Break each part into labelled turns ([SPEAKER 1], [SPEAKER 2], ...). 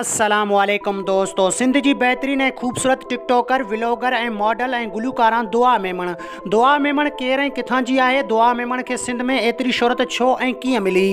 [SPEAKER 1] السلام عليڪم دوستو سنڌ جي بهترين ۽ خوبصورت ٽڪ ٽاڪر ولوگر ۽ ماڊل ۽ گلوڪاران دعا ميمڻ دعا ميمڻ ڪير ۽ ڪٿان جي آهي دعا ميمڻ کي سنڌ ۾ ايتري شهرت ڇو ۽ ڪيئن ملي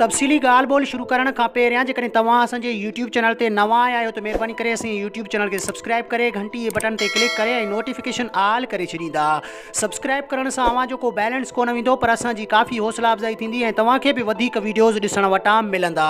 [SPEAKER 1] تفصيلي ڳالهه ٻولهه شروع ڪرڻ کان پهريان جيڪڏهن توهان اسان جي يوٽيوب چينل تي نوان آيا آهيو ته مهرباني ڪري اسان جي يوٽيوب چينل کي سبسڪرائب ڪري گهنٽي جي بٽن تي ڪلڪ ڪري ۽ نوٽيفڪيشن آل ڪري ڇڏيندا سبسڪرائب ڪرڻ سان اوهان جو ڪو بيلنس ڪونه ويندو پر اسان جي ڪافي حوصلا افزائي ٿيندي ۽ توهان کي به وڌيڪ وڊيوز ڏسڻ وٽان ملندا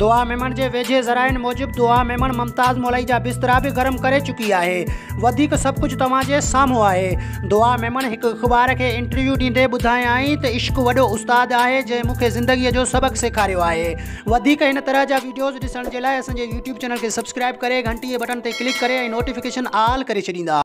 [SPEAKER 1] دعا ميمڻ جي ويجهي ذرائعن موجب دعا ميمڻ ممتاز مولائي جا بسترا به گرم ڪري چڪي آهي وڌيڪ سڀ ڪجهه توهان جي سامهون آهي دعا ميمڻ هڪ اخبار کي انٽرويو ڏيندي ٻڌايائين ته عشق وڏو استاد آهي جنهن مون کي زندگي جو سبق سيکاريو آهي وڌيڪ هن طرح جا ويڊيوز ڏسڻ جي لاء اسان جي يوٽيوب چينل کي سبسڪرائب ڪري گهنٽي جي بٽڻ تي ڪلڪ ڪري ۽ نوٽيفڪيشن آل ڪري ڇڏيندا